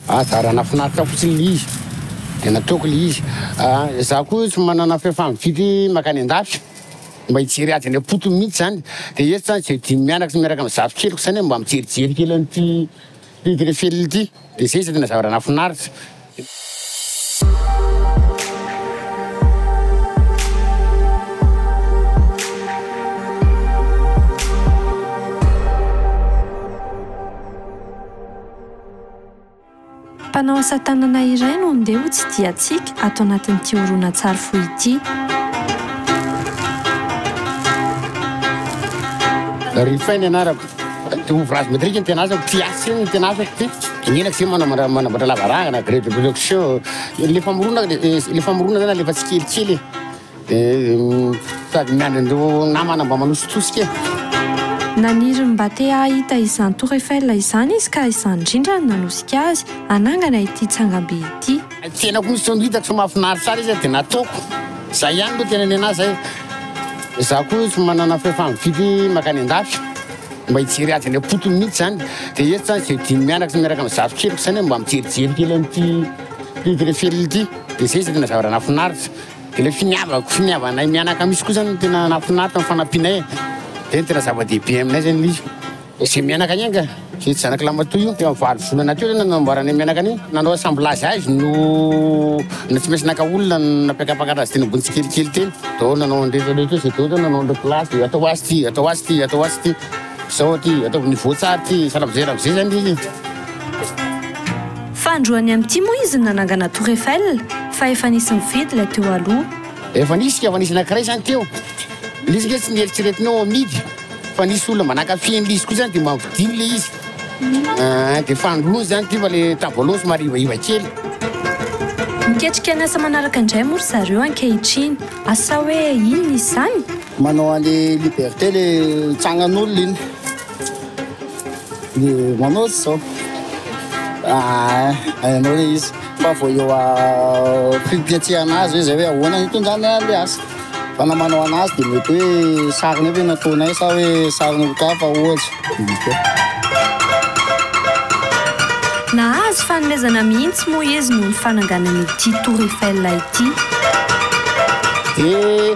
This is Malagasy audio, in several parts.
Anjara nafinaritra fotsiny le izy de nataoko le izy ah za ko tsy manana fahefana mifidy makany andafy mba hijery ady any ampotony mintsy zany de eto zany ze dimy mianaka sy miaraka am zato keliko zany mba mijerijery kely an'ity hidiny feliny ity de zay zany tena zavatra nafinaritra. Mpanao asa tanana iray no ndeha ho tsidihantsika ato anatin'ity horonantsary fohy ity. Rifay ny anarako. Ouvrage métrique ny tena asako, mpiasa iny ny tena asako ty. Inona tsy manao manao- manamboatra lavarangana, grille de production. Le famoronana le le famoronana zany alefa tsikelikely e. Dia sady miandry an'ireo namana mba manositosika e. Naniry mba te hahita izany Tour Eiffel izany izy ka izany indrindra no nanosika azy hanangana ity tsangambe ity. Ny fiainako mihitsy izao no hitako fa mahafinaritra ahy ilay izy dia nataoko. Izay ihany aloha tena ny an'ahy izay. Izaho koa tsy manana fahefana mividy mankany an-dafy. Mba hijery azy any am-potony mihitsy izany. Dia eto izany izay dimy mianaka sy miaraka amin'ny zafikeliko izany aho mba mijerijery kely an'ity Tour Eiffel ity. Dia izay izay tena zavatra nahafinaritra. Ilay finiavako, finiavanay mianaka mihitsy koa zany no tena nahafinaritra ny fanampianay e. Zay no tena zava-dehibe aminay zay ny hoe izay mianaka anie anga, izay tsy zanaky Lamatoa io, teo amin'ny valo volana teo zany no namboaranay mianaka an'io. Nanao assemblage azy no na tsy maintsy naka olona nampiakapakatra azy teny ambony tsikelikely teny. Daholo nanao an'ireny rehetra ireny, izay daholo zany nanao an'ireo place dia atao ho azy ity, atao ho azy ity, atao ho azy ity. Zao aty ataovy ny voatsary ty sa lavize lavize zany ty Fa androany amin'ity moa izy no nanangana tour Eiffel fa efa nisy nividy ilay teo aloha. Efa nisy ka efa nisy anankiray zany teo le izy nge tsy nieritreretinao amidy fa nisy olona mba nankafy an'le izy koa zany de mba vidiny le izy ah de fandroany zany ty fa le tamin'ny voalohany somary ivaiva kely. Miketrika ny asa manaraka indray moa ry zareo ankehitriny. Asa hoe inona izany? Manao any liberté le tsagnan'olona iny. Ny manao tsy zao. Ah, hainao le izy. Fa vao eo a prix fiatsehana azy hoe zay hoe ahoana ny hitondrany an'le asa. Fa na manao anazy dia mety hoe sariny eo ve no ataonay sa hoe sariny olon-kafa ohatra. Nahazo fanomezana mihitsy moa izy noho ny fananganana ity Tour Eiffel ity. Dia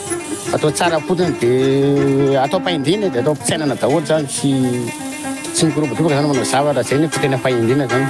Atao tsara fotsiny dia atao fahendrena dia atao am-pitsainana daholo zany sy tsy mikorobodroboka zany manao zavatra zay ny tena fahendrena zany.